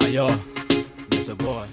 Ayo, Mr. Boy.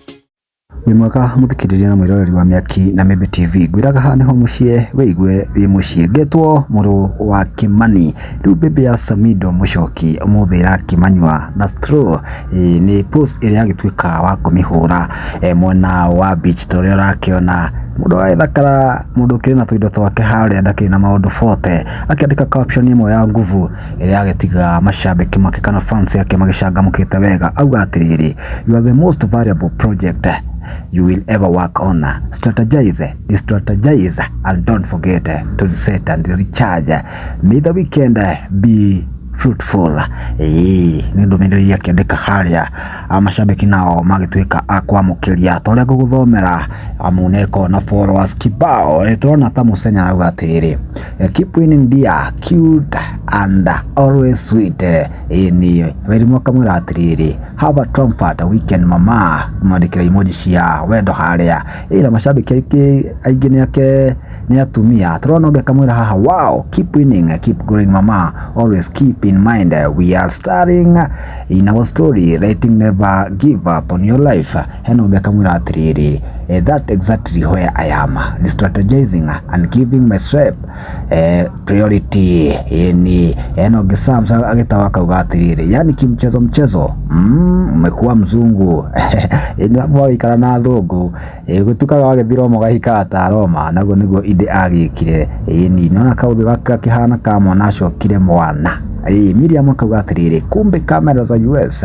wĩ mwega mũthikĩrĩria na mwĩroreri wa mĩaki na mĩmbi tv ngwĩraga haha nĩho mũciĩ wĩigue wĩ mũciĩ ngetwo mũrũ wa kĩmani rĩu mbĩmbĩ ya samido mũcoki ũmũthĩ ĩrakĩmanyua na straw eh, nĩ post ĩrĩa agĩtuĩka wa kũmĩhũra eh, mwena wa beach ta ũrĩa ũrakĩona mũndũ agethakara mũndũ ũkĩrĩ na tũindo twake harĩa ndakĩrĩ na maũndũ bote akĩandĩka caption ĩmwe ya nguvu ĩrĩa yagĩtiga macambĩki make kana fans yake magĩcangamũkĩte wega auga atĩrĩrĩ you are the most valuable project you will ever work on strategize strategize and don't forget to reset and recharge may the weekend be fruitful ĩĩ nĩ ndũmĩrĩri akĩandĩka harĩa a macambĩki nao magĩtuĩka a kwamũkĩria ta ũrĩa ngũgũthomera amu nĩkoragwo na followers kibao Ĩ, tũrona ta mũcenya arauga atĩrĩrĩ Eh, keep winning dear cute and always sweet eh, ĩĩ nĩ wĩrimũ kamwĩra atĩrĩrĩ have a comfort weekend mama mwandĩkĩra emoji cia wendo harĩa ĩra mashabiki aingĩ aingĩ nĩ ake nĩ atumia tũrona ũngĩ akamwĩra haha wow keep winning eh, keep growing mama always keep in mind eh, we are starting in our story letting never give up on your life Hena ũngĩ akamwĩra atĩrĩrĩ eh, that exactly where I am the strategizing and giving my strep eh, priority yani hena ũngĩ Sam sa- agĩtawa akauga atĩrĩrĩ yani kimchezo mchezo mm, umekuwa mzungu yani hapo waikara na athũngũ eh, gũtukaga wagĩthi Roma ũgahika ta Roma naguo nĩguo inde agĩkire yani nona kaũthĩ gake gakĩhana ka mwana acokire mwana Ĩĩ, Miriam akauga atĩrĩrĩ kumbe kamera za US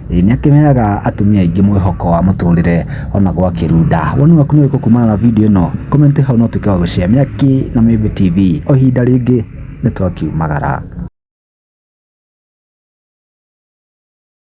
Ĩĩ nĩ akĩheaga atumia aingĩ mwĩhoko wa mũtũrĩre ona gwakĩru nda. Woni waku nĩ ũrĩkũ kumana na video ĩno? Comment hau na ũtuĩke wa gũshare. Mĩaki na Mĩmbi TV, o ihinda rĩngĩ nĩ twakiumagara.